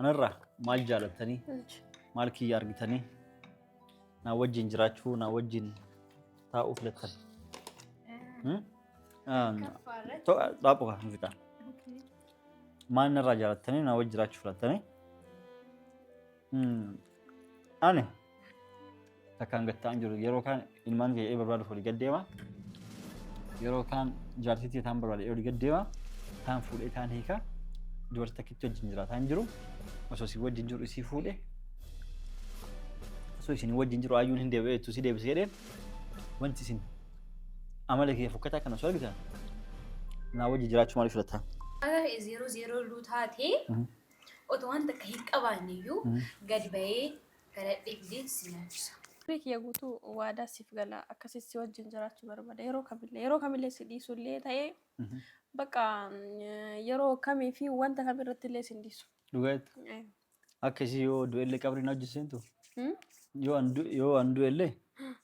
Anarraa maal jaalattanii? Maal kiyya argitanii? Naa wajjin jiraachuu, naa wajjin taa'uu filattan. Dhaabbu kan hin fixaa. Maal narraa jaalattanii naa wajjin jiraachuu filattanii? Ani takkaan gad ta'an jiru yeroo kaan ilmaan kee barbaaduuf olii gad deema. Yeroo kaan jaartii kee taan barbaade olii gad deema. Taan fuudhee taan hiika. Dubartii takkitti wajjin jiraataa hin jiru. Osoo isin wajjin jiru isii fuudhe. Osoo isin wajjin jiru ayyuun hin deebi'e jettu si deebisee jedheen. Wanti isin amala kee fokkataa kana osoo argitan naa wajjin jiraachuu maaliif filataa? Haga zero zero lu taate Otoo waan takka hin qabaanne iyyuu gad ba'ee kadhadhee fidee si nyaachisa. Umrii kiyya guutuu waadaa siif gala, akkasitti si wajjin jiraachuu barbaada. Yeroo kamillee, yeroo kamillee si dhiisu illee ta'e, bakka yeroo kamii fi wanta kam irratti illee si hin dhiisu. Dhugaa jettu. Eh, Akka ishii yoo du'e illee qabriin hojii seentu hmm? yoo an du- yoo an du'e illee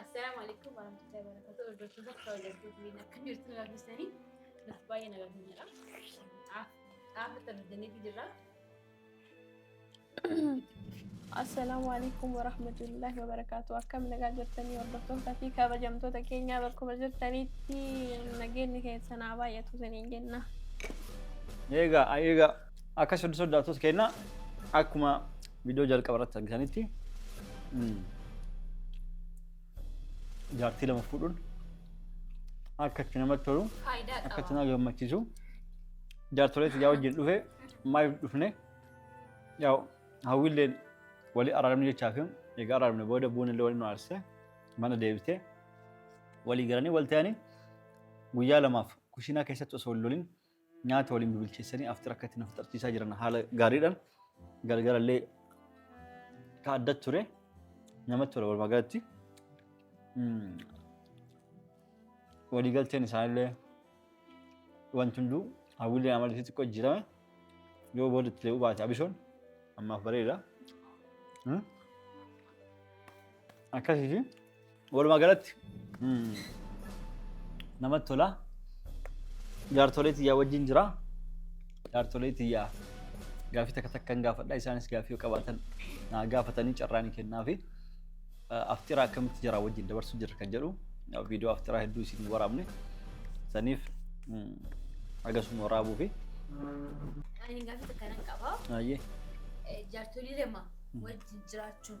Assalaamu alaikum warahmatullahi wabarakatuh. Hordoftoota kabajamtuu fi akka jirtu nu gaafisanii nuti baay'ee nagaa kan jedha. Xaafa itti argataniitu jirra. Assalaamu alaikum warahmatullahi wabarakatuh. Akkam nagaa jirtanii hordoftoota fi kabajamtoota keenyaa bakkuma jirtanitti nageenyi keessan haa baay'atu isiniin jenna. Eegaa, eegaa. Akkas hundi sodaattoota keenya akkuma viidiyoo jalqaba irratti argitanitti mm, jaartii lama fuudhuun akka itti namatti tolu Faayidaa akka itti qaba. nama gammachiisu jaartolee tiyyaa wajjin dhufe maaliif dhufne yaa hawwiilleen walii araaramne jechaa fi egaa araaramne booda bu'uun illee waliin nu aarse mana deebite walii galanii wal ta'anii guyyaa lamaaf kushiinaa keessatti osoo hin lolin nyaata waliin bibilcheessanii after akka itti na fixarchiisaa jiran haala gaariidhaan galgalallee ka adda ture namatti tola walumaa galatti. Mm. Waliigalteen isaanillee wanti hunduu hawwiilee amala isii xiqqoo jijjiirame yoo booda itti lee'uu baate abishoon ammaaf bareeda. Mm. Akkasiiti. Walumaa galatti namatti tola. Jaartolee tiyyaa wajjin jira. Jaartolee tiyyaa gaafii takka takka hin gaafadha. Isaanis gaafii yoo qabaatan naa gaafatanii carraa ni kennaafi. Afxiraa akkamitti jira wajjin dabarsuu jirra kan jedhu viidiyoo afxiraa hedduu isin waraabne saniif agasuma waraabuu fi Ani gaafii takka nan qaba. baay'ee Jaartolii lama wajjin jiraachuun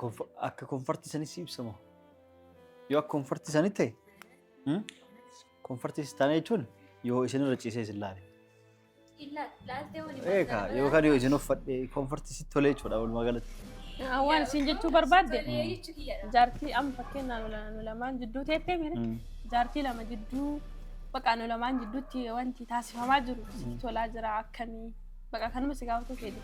Konf- Akka konfartii sanis ibsama. Yoo akka konfartii sanii ta'e hmm? konfartii istaanaa jechuun yoo isin irra ciisee isin laale. Eeka yookaan yoo isin uffadhe konfartii sitti tolee jechuudha walumaa galatti. Waan isin jechuu barbaadde jaartii amma fakkeenyaaf nu- nu lamaan jidduu teettee miti Mm. jaartii lama jidduu baqa nu lamaan jidduutti wanti taasifamaa jiru sitti tolaa jira akkamii baqa kanuma si gaafatu fedhe.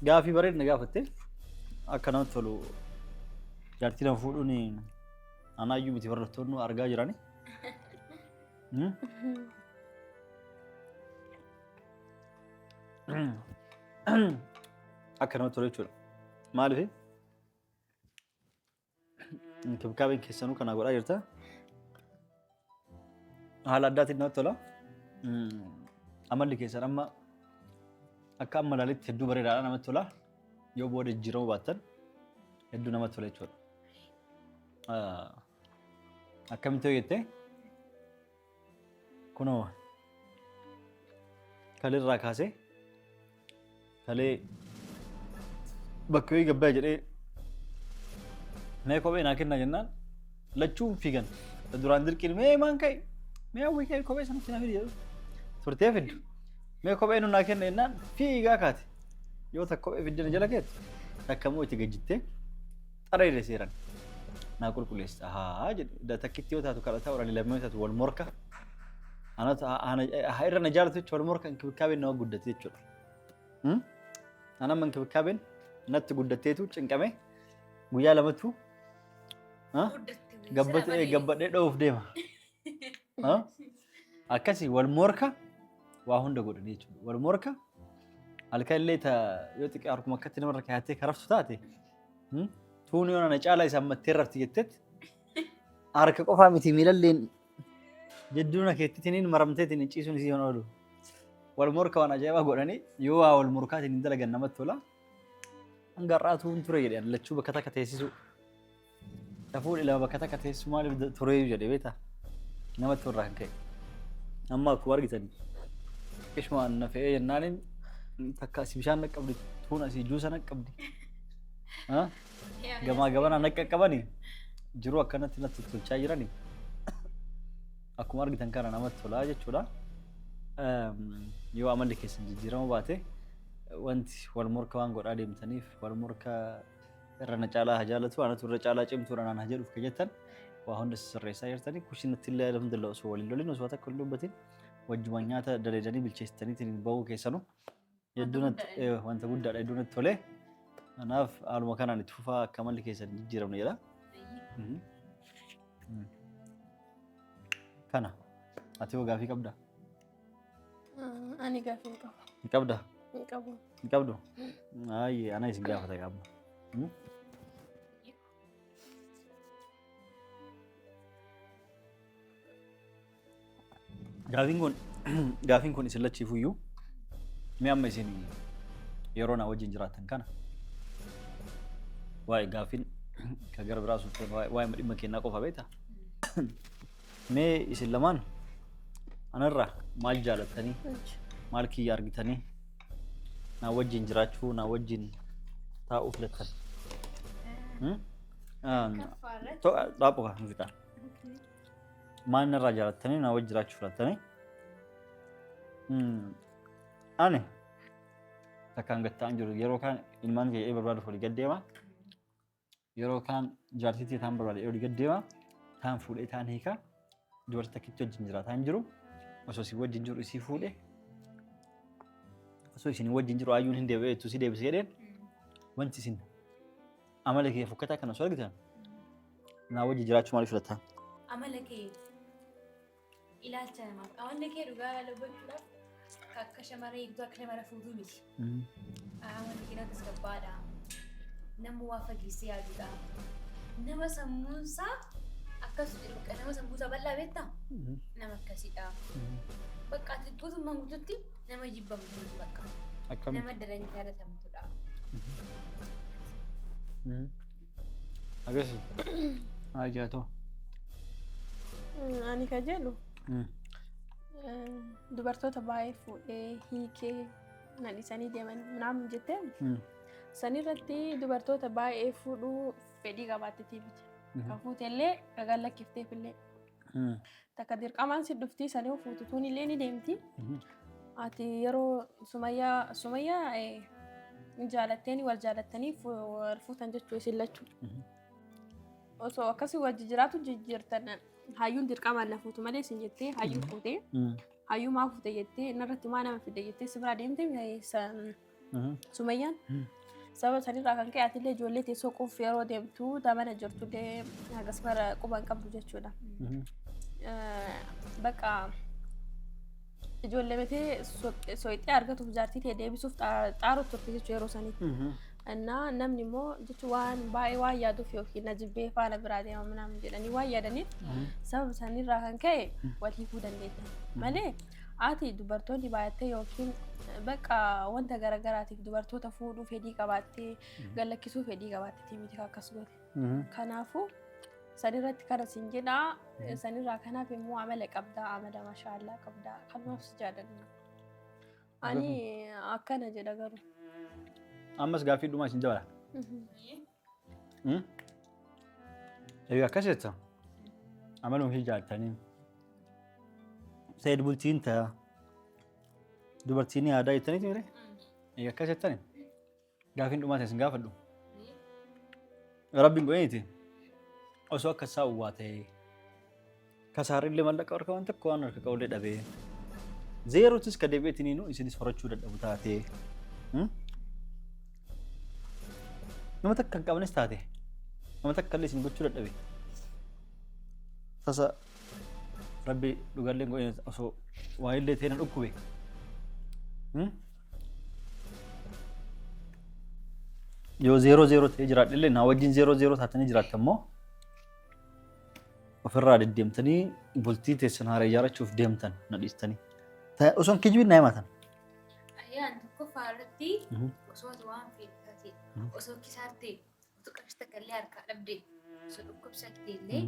Gaafii bareedna gaafatte akka namatti tolu jaartii nama fuudhuun anaayyuu miti barattoonni argaa jirani. Akka namatti tolu jechuudha. Maaliif? Inkibkaabeen keessanuu kanaa godhaa jirta. Haala addaatiin namatti tola. Amalli keessan amma akka amma ilaalitti hedduu bareedaadha namatti tola. Yoo booda jijjiiramuu baattan hedduu namatti tola jechuudha. Akkamitti yoo jettee Kunoo kaleerraa kaasee kalee bakka wayii gabbaa jedhee mee kophee naa kennaa jennaan lachuun fiigan duraan dirqiin mee maan ka'e mee hawwii ka'e kophee sana sinaa fidi jedhu turtee fiddu mee kophee nu naa kenna jennaan fiigaa kaate yoo takka kophee fiddina jala keetu takka immoo itti gajjittee xarayile seeran naa qulquleessa haa jedhe da takkitti yoo taatu kadhata orali lammii yoo taatu wal morka ana ta- ana- ha irra na jaalatu jechuudha wal morka inkibikaabeen nama guddate jechuudha Hmm? ana amma inkibikaabeen natti guddatteetu cinqame guyyaa lamatu ha? Guddatte. gabbate gabbadhee dhoof deema Ah? Akkasii wal morka waa hunda godhanii jechuudha. Wal morka halkan illee ta yoo xiqqaa harkuma akkatti namarra kaayattee karaftu taate hmm? tuun yoo na caalaa isaan mattee rafti jettetti harka qofaa miti miilalleen jedduuna keettitiniin maramteetiin hin ciisuun isii hin oolu. Wal morka waan ajaa'ibaa godhanii yoo waa wal morkaatiin hin dalagan namatti tola. Hanga har'aa tuun ture jedhan lachuu bakka takka teessisuu. Safuu ilaa bakka takka teessu maaliif tureeyu jedhe beekta. Nama turraa hin ka'e. Amma akkuma argitan qishuma na fe'ee jennaaniin takka asii bishaan naqqabdi tuun asii juusa naqqabdi. Gamaa gabanaa naqqaqqabani jiruu akkanatti natti tolchaa jirani. Akkuma argitan kana namatti tolaa jechuudha. Yoo amalli keessan jijjiirama baate wanti wal morka waan godhaa deemtaniif wal morka irra na caalaa haa jaalatu anatu irra caalaa cimtuudha naan haa jedhuuf kan jettan waa hunda sirreessaa jirtanii kushinatti illee alhamdulillah osoo waliin lolin osoo takka hin dubbatin wajjumaan nyaata daleedanii bilcheessitaniitiin bahuu keessanu hedduu natti eh, wanta guddaadha hedduu natti tolee kanaaf haaluma kanaan itti fufaa akka malli keessan hin jijjiiramne jedha. Mhm. Mm. Kana ati hoo gaafii qabdaa? Ani gaafa hin qabu. Hin qabda? Hin qabu. Hin qabdu? Ayyee ana isin gaafata qabna. Gaafiin kun gaafiin kun isin lachiifuyyuu mee amma isin yeroo na wajjin jiraattan kana waa'ee gaafiin kan gara biraa sun waa'ee dhimma kennaa qofa beektaa? Mee isin lamaan anarraa maal jaalattanii maal kiyya argitanii naa wajjin jiraachuu naa wajjin taa'uu filattan. Hmm? Ah, to- ah, Dhaaboo kaa muziqaa. Maal narraa jaalattanii naa wajjin jiraachuu filattanii? Hmm. Ani takkaan gattaan jiru yeroo kaan ilmaan kee barbaadu olii gad deema. Yeroo kaan jaartii ta'e taan barbaade olii gad deema taan fuudhee taan hiika dubartii takkitti wajjin jiraataa hin jiru osoo isin wajjin jiru isii fuudhe osoo isin wajjin jiru ayyuun hin deebi'e jettu si deebisee jedheen wanti isin amala kee fokkataa kana osoo argitan naa wajjin jiraachuu maaliif filatta? Amala kee Ilaalcha namaaf qaamni kee dhugaa yaala gochuudhaaf akka akka shamarree eegduu akka shamara fuudhuu miti. Qaamni kee natti gabbaadha. Nama waa fageessee yaadudha. Nama sammuunsaa akkas jedhu bakka nama sammuusaa bal'aa beektaa? Nama akkasidha. Bakka ati guutummaan guututti nama jibbamtu miti bakka. Akkamitti? Nama daran jaalatamtudha. Agasi. Ajaa too. Ani ka jedhu dubartoota baay'ee fuudhee hiikee na dhisanii deeman naam jettee sanirratti dubartoota baay'ee fuudhuu fedhii qabaattetii miti. Kan fuutellee ragaan lakkifteefillee. Takka dirqamaan si dhufti sanii fuututuun illee ni deemti. Ati yeroo sumayyaa sumayyaa hin jaalatteeni wal jaalattanii wal fuutan jechuu isin lachuu. Osoo akkasii wajji jiraatu jijjiirtan hayyuun dirqamaan na fuutu malee isin jettee hayyuu fuutee hayyuu maa fuute jettee narratti maa nama fide jettee si biraa deemte Sumayyaan sababa sanirraa kan ka'e atillee ijoollee tee soquuf yeroo deemtu damana jirtullee hagas mara quba hin qabdu jechuudha. Bakka ijoollee tee soqxee argatuuf jaartii tee deebisuuf xaaru turte jechuudha yeroo sanitti. Innaa namni immoo jechuun waan baay'ee waan yaaduuf yookiin na jibbee faana biraa deema minaamin jedhanii waan yaadaniif sababa sanirraa kan ka'e wal hiikuu dandeettan malee. Ati dubartoonni baay'attee yookiin bakka wanta garaagaraatiif dubartoota fuudhuu fedhii qabaattee gallakkisuu fedhii qabaattee miti akkas goote. Kanaafuu sanirratti kana siin jedhaa sanirraa kanaaf immoo amala qabdaa amala mashaallaa qabdaa kanumaaf si jaalanna. Ani akkana jedha garuu. Ammas gaaffii dhumaa isin dabala. Egaa akkas jetta. Amaluun kee jaalatanii. Seed bultiin ta'a. Dubartiin yaadaa jettanii ture. Egaa akkas jettani. Gaafiin dhumaa isin gaafadhu. Rabbiin godhaniiti. Osoo akka isaa uwwaa ta'ee. Kasaarrillee mallaqa harka waan tokko waan harka qabullee dhabee. Zeerootis ka deebi'eetiniinu isinis horachuu dadhabu taatee. Hmm? Nama takka hin qabnes taate. Nama takka illee isin gochuu dadhabe. Tasa rabbi dhugallee hin godhine osoo waa illee ta'e na dhukkube. Hmm? Yoo zeeroo zeeroo ta'ee jiraadhe illee naa wajjin zeeroo zeeroo taatanii jiraattan moo ofirraa deddeemtanii bultii teessan haara ijaarrachuuf deemtan na dhiistanii. Ta- Osoon kijibin na himatan. Ayyaan tokkoffaa irratti Mhm. osoo ati waan feetu taate Mhm. osoo kisaarte utuu qarshii takka illee harkaa dhabde osoo dhukkubsatte illee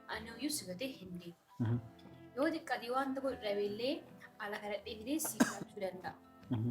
ani hoyyuu si gatee hin deemu. Mhm. Yoo xiqqaate waan tokko dhabe illee ala kana dheedee si kaachuu danda'a. Mhm.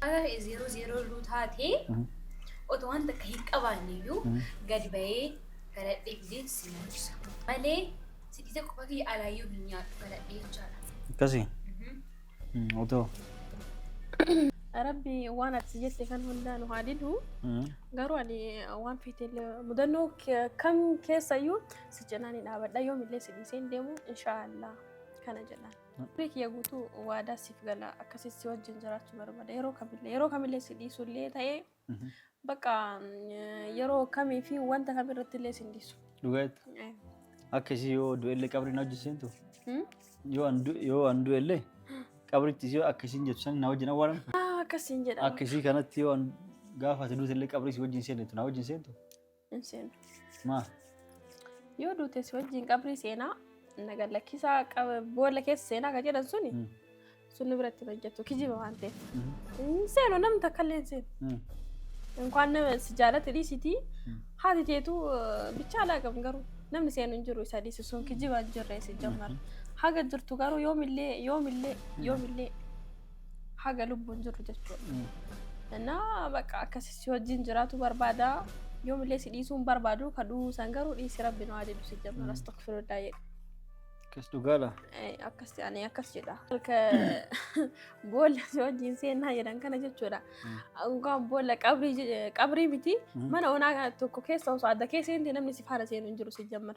Haala ta'e zeeroo zeeroo iluu taatee otoo waan takka hin qabaanne iyyuu gadi ba'ee galadhee fidee si nyaachisa. Malee sidiita qofa kiyya alaayyuu hin nyaadhu galadhee jechaadha. Akkasii? Otoo? Rabbi waan ati si jette kan hundaa nu haa didu. Garuu ani waan feetellee mudannoo ke- kam keessayyuu si cinaan hin dhaabadha yoomillee si dhiisee hin deemu inshaallah kana jedhan. Umrii kiyya guutuu waadaa siif gala akkasii si wajjin jiraachuu barbaada yeroo kamillee yeroo kamillee si dhiisullee ta'ee bakka mm, yeroo kamii fi wanta kam irratti illee si hin dhiisu. Dhugaatti. Eh, Akka isii yoo du'ellee qabri na wajjin seentu. hmm? Yoo an du- yoo an du'ellee qabritti isii akka isiin jettu san na wajjin awwaalan. Ah, Akkasiin jedhama. Akka isii kanatti yoo an gaafa ati duutellee qabri isii wajjin seentu na wajjin seentu. Hin seenu. Maa? Yoo duute si wajjin qabrii seenaa naga lakkisaa qaba- boolla keessa seenaa kan jedhan suni Mm. sun nu biratti hin hojjetu kijiba waan ta'eef. Hin seenu namni takka illee hin seenu. Mm. Inkaan nama si jaalate dhiisitii Mm. haati teetu bichaa alaa qabu garuu namni seenu hin jiru isa dhiisu sun kijiba hin jirre si jammar. Haga jirtu garuu yoomillee yoomillee yoomillee haga lubbuun jirru jechuudha. Innaa bakka akkasii si wajjin jiraatu barbaada. Yoomillee si dhiisuun barbaadu ka du'uu san garuu dhiisi rabbi nu adeemu si jedhu astagfirullah jedhe. Akkas dhugaadha. Akkas ani akkas jedha. Halka boolla si wajjin seenaa jedhan kana jechuudha. Dhugaan boolla qabrii miti mana onaa tokko keessa osoo adda keessa namni si faana seenu hin jiru si jammar.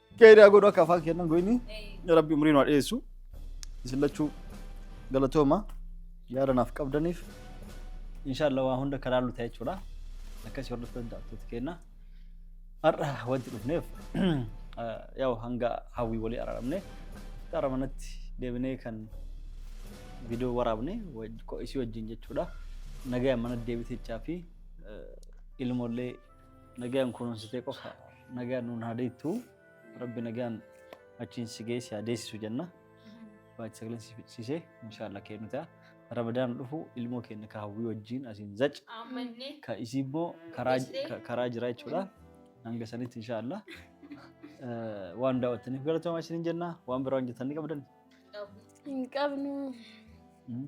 Gaida godhu akka afaan kennan goyni rabbi umrii nu haa dheessu isin lachuu galatooma yaada naaf qabdaniif inshaallah waa hunda karaa nu ta'e jechuudha akkasii hordofuu danda'attoota keenya har'a wanti dhufneef yaa'u hanga hawwii walii araaramne gara manatti deebinee kan viidiyoo waraabne waj- ko- isii wajjin jechuudha nagayaan mana deebitechaa fi ilmoollee Nagaan kunuunsitee qofa nagaan nuun haa deettu rabbi nagaan achiin si geessi haa deessisu jenna. Baay'ee sagaleen si fixsiisee inshaallah kennu ta'a. Rabadaan dhufu ilmoo keenya ka hawwii wajjin asiin zac ka isii immoo karaa ka- karaa jira jechuudha. Hanga sanitti inshaallah eh, waan daawwattaniif galatoomaa isiniin jenna. Waan biraa hojjetan ni qabdan. Hin qabnu. Mm.